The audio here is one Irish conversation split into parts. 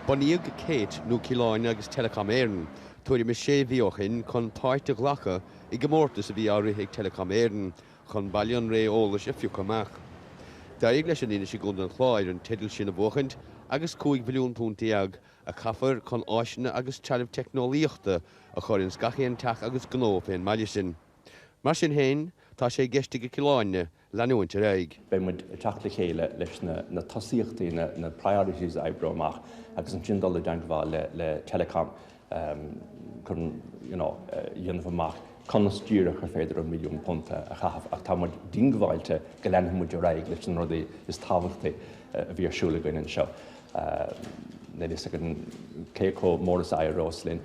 Bunaíodh Kate, nó Cill Airne agus Telecom Éireann, tuairim is sé mhí ó shin chun páirt a ghlacadh i gcomórtas a bhí á rith ag Telecom Éireann chun baile an ré eolais a phiocadh amach. D'éirigh leis an Inis i gContae an Chláir an teideal sin a bhuachaint agus cúig mhilliún punt déag a chaithfear chun áiseanna agus trealamh teicneolaíochta a chur ins gach aon teach agus gnó fén mbaile sin. Mar sin féin, tá sé i gceist ag Cill Airne, leanúint ar aghaidh. Beidh muid ag teacht le chéile leis na tosaíochtaí, na priorities a oibriú amach agus ansin dul i dteangmháil le Telecom chun you know a dhéanamh amach conas díreach ar féidir an milliún punt a chaitheamh ach tá muid diongbháilte go leanfaidh muid ar aghaidh leis na rudaí is tábhachtaí a bhí ar siúl againn anseo. Níl a fhios againn cé chomh mór is a éireos linn.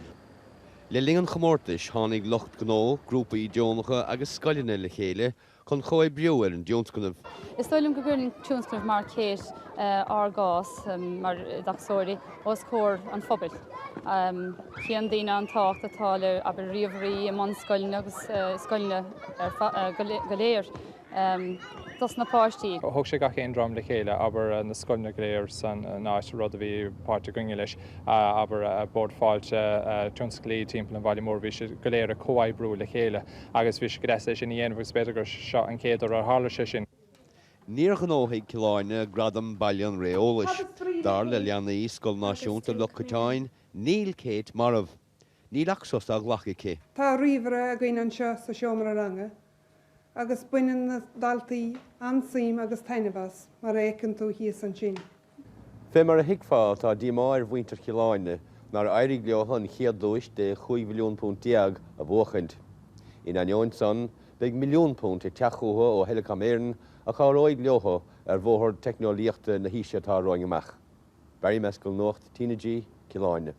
Le linn an chomórtais, tháinig lucht gnó, grúpaí deonacha agus scoileanna le chéile chun comhoibriú ar an dtionscnamh. Is dóigh liom go gcuireann tionscnamh mar Kate ár gcás mar oideachasóirí os comhair an phobail. Chíonn daoine an tábhacht atá le, abair, ríomhairí i mbunscoileanna agus i scoileanna go léir dos na páistí. Thug sé gach aon dream le chéile, abair na scoileanna go léir san áit, rud a bhí páirt againne leis, abair Bord Fáilte, tionsclaí timpeall an bhaile mhóir, bhí siad go léir ag comhoibriú le chéile. Agus bhí sé go deas é sin a dhéanamh agus b'fhéidir gur seo an chéad uair ar tharla sé sin. Níor ghnóthaigh Cill Airne gradam 'Baile an Ré Eolais'. Dar le leanaí Scoil Náisiúnta Loch Coiteáin, níl Kate marbh. Níl ach sos á ghlacadh aici. Tá ríomhaire againn anseo sa seomra ranga agus baineann na daltaí an-suim agus taitneamh as, mar a fheiceann tú thíos ansin. Fé mar a thuigfeá, tá díomá ar mhuintir Chill Airne nár éirigh leothu an chéad duais de chúig mhilliún punt déag a bhuachaint. In ainneoin san, beidh milliún punt ag teacht chuchu ó Thelecom Éireann a chabhróidh leothu ar bhóthar teicneolaíochta na haoise atá romhainn amach. Barry Mescall Nuacht TnaG, Cill Airne.